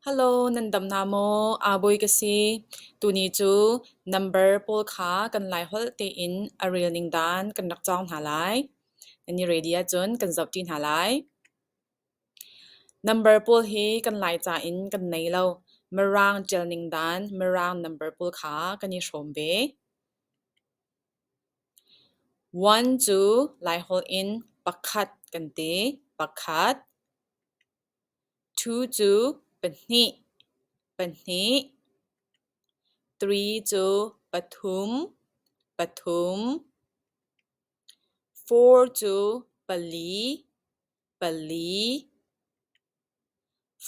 Hello, nan dam na maw? Aa bawi ka si. Tuni cu number pawl kha kan lai holh tein a rel ning dan kan rak cawng hna lai. Nan i ready ahcun kan zoh ṭi hna lai. Number pawl hi kan Laica in kan nei lo. Mirang ṭial ning dan Mirang number pawl kha kan i hrawm ve. One cu Laiholh in pakhat kan ti. Pakhat. Thu cu pahnih, pahnih. Tri cu pathum, pathum. Four cu pali, pali.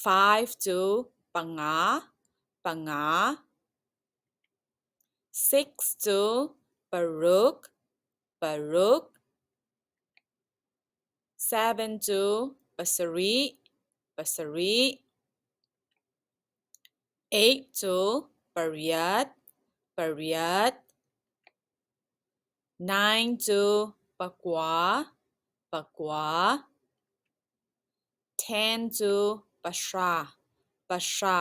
Five cu panga, panga. Six cu paruk, paruk. Seven cu pasarih, pasarih. Eight cu pariat, pariat. Nine cu pakua, pakua. Then cu pahra, pahra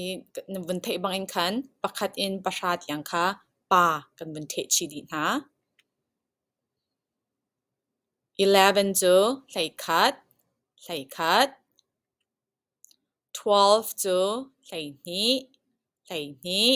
i na vun theih bangin khan pakhat in pahra tiang kha pa kan vun theh chih dih hna. Eleven cu hleikhat, hleikhat. Twelve cu hleihnih, hleihnih.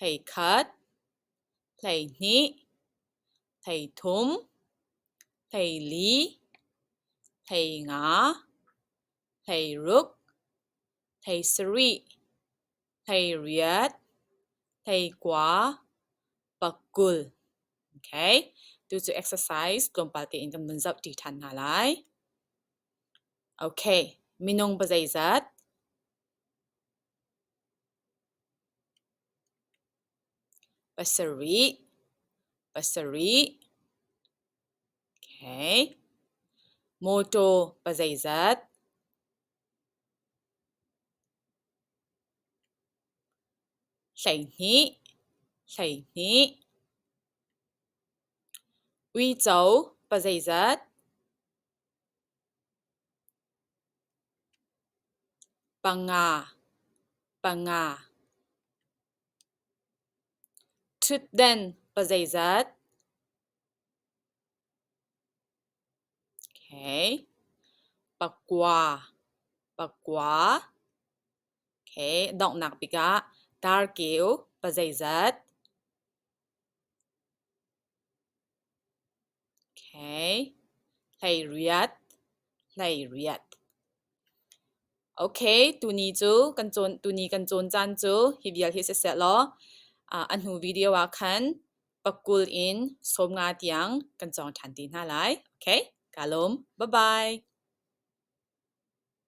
Thei khat, thei hnih, thei thum, thei li, thei nga, thei ruk, thei sarih, thei riat, thei kua, pakul. Okay, tu cu exercise tlawmpal tein kan vun zoh ṭi ṭhan hna lai. Okay, minung pazeizat? Pasarih, pasarih, okay. Mawṭaw pazeizat, hleihnih, hleihnih, uico pazeizat. Panga, panga. Ṭhutden pazeizat? Pakua, pakua. Donghnak bik ah tarkeu pazeizat? Tuni cu kan cawn caan cu hi vial hi siseh law a hnu video ah khan pakul in sawm nga tiang kan cawng ṭhan ti hna lai. Okay, kaa lawm. Bye-bye.